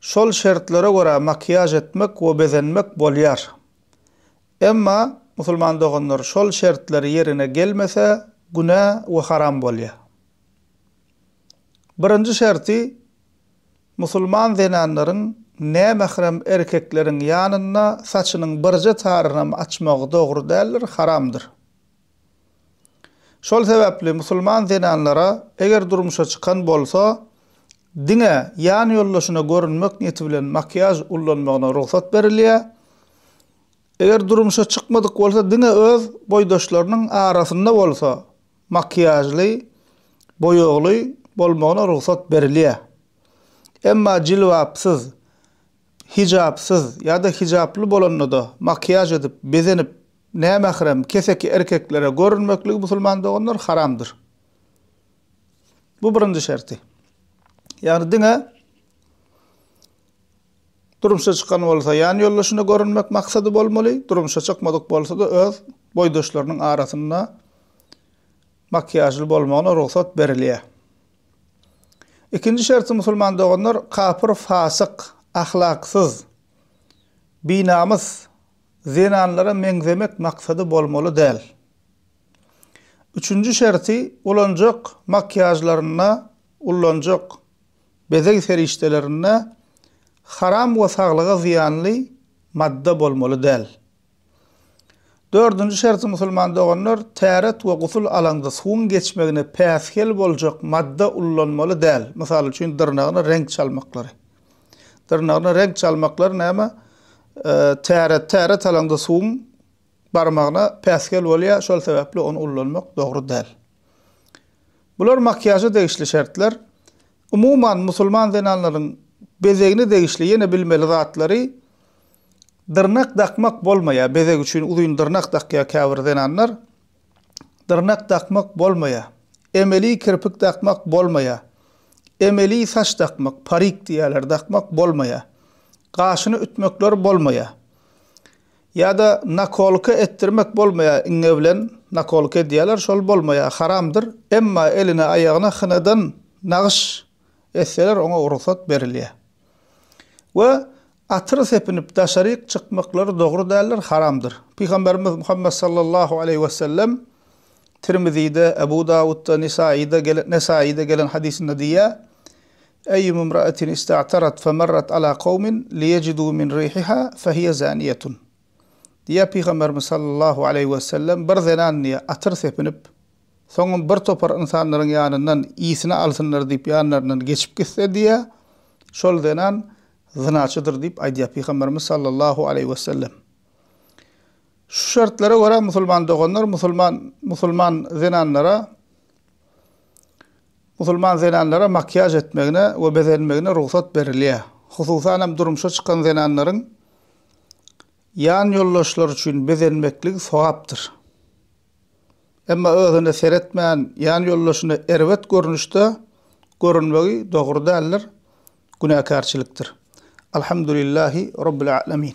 Şol şertlere görä makiýaž etmek we bezenmek bolýar. Emma, musulman doganlar, şol şertler ýerine gelmese, günä we haram bolýar. Birinji şerti, musulman zenanlaryň nämährem erkekleriň ýanynda saçynyň birje taryny hem açmagy dogry däldir, haramdyr. Şol sebäpli musulman zenanlara eger durmuşa çykan bolsa, diňe ýan ýoldaşyna görünmek niýeti bilen makiýaž ullanmagyna rugsat berilýär. Eger durmuşa çykmadyk bolsa, diňe öz boýdaşlarynyň arasynda bolsa makiýažly, boýagly bolmagyna rugsat berilýär. Emma jilbapsyz, Hijapsyz ýa-da hijaply bolanda-da makiýaž edip, bezenip, nämährem, keseki erkeklere görünmekligi musulman doganlar haramdyr. Bu birinji şerti. Ýagny diňe durmuşa çykan bolsa ýan ýoldaşyna görünmek maksady bolmaly, durmuşa çykmadyk bolsa-da öz boýdaşlarynyň arasynda makiýažly bolmagyna rugsat berilýär. Ikinji şerti musulman doganlar kapyr fasyk, ahlaksyz, binamys zenanlara meňzemek maksady bolmaly däl. Üçünji şerti ulanjak makýažlarynda, ullanjak bezeg serişdelerinde haram we saglyga zyýanly madda bolmaly däl. Dördünji şerti musulman doganlar täret we gusul alaňda suwuň geçmegine päsgel boljak madda ullanmaly däl, mysal üçin dyrnagyna reňk çalmaklary. Dyrnagyna reňk çalmaklary näme täret täret alaňda suwuň barmagyna päsgel bolýar, şol sebäpli ony ullanmak dogry däl. Bular makiýaža degişli şertler. Umuman musulman zenanlaryň bezegine degişli ýene bilmeli zatlary, Dyrnak dakmak bolmaýar. Bezeg üçin uzyn dyrnak dakýar käbir zenanlar. Dyrnak dakmak bolmaýar. Emeli kirpik dakmak bolmaýar. Emeli saç dakmak, parik diýýärler, dakmak bolmaýar. Gaşyny ütmekler bolmaýar. Ýa-da nakolka etdirmek bolmaýar, iňňe bilen nakolka edýärler, şol bolmaýar, haramdyr. Emma eline, aýagyna hynadan nagyş etseler, oňa rugsat berilýär. We Atyr sepinip daşaryk çykmaklary dogry däldir, haramdyr. Pygamberimiz Muhammet sallallahu aleýhi wesellem Tirmizide, Ebu Dawudda, Nisaýyda gelen, Nesaýyda gelen hadysynda diýýär, Eýýum imra'atin ista'tarat femarrat ala kowmin liýejidu min rihiha fehiýe zaniýetun. Diýýär Pygamberimiz sallallahu aleýhi wesellem, Bir zenan diýýär, atyr sepinip, soňam bir topar ynsanlaryň ýanyndan ysny alsynlar diýip ýanlaryndan geçip gitse diýýär, şol zenan zynaçydyr diýip aýdýar Pygamberimiz sallallahu aleýhi wesellem. Şu şertlere görä musulman doganlar musulman musulman zenanlara musulman zenanlara makiýaž etmegine we bezenmegine rugsat berilýär. Hususan hem durmuşa çykan zenanlaryň ýan ýoldaşlary üçin bezenmekligi sogapdyr. Emma özüne seretmän ýan ýoldaşyna erbet görnüşde görünmegi dogry däldir. günäkärçilikdir. Alhamdulillahi Rabbil A'lemin.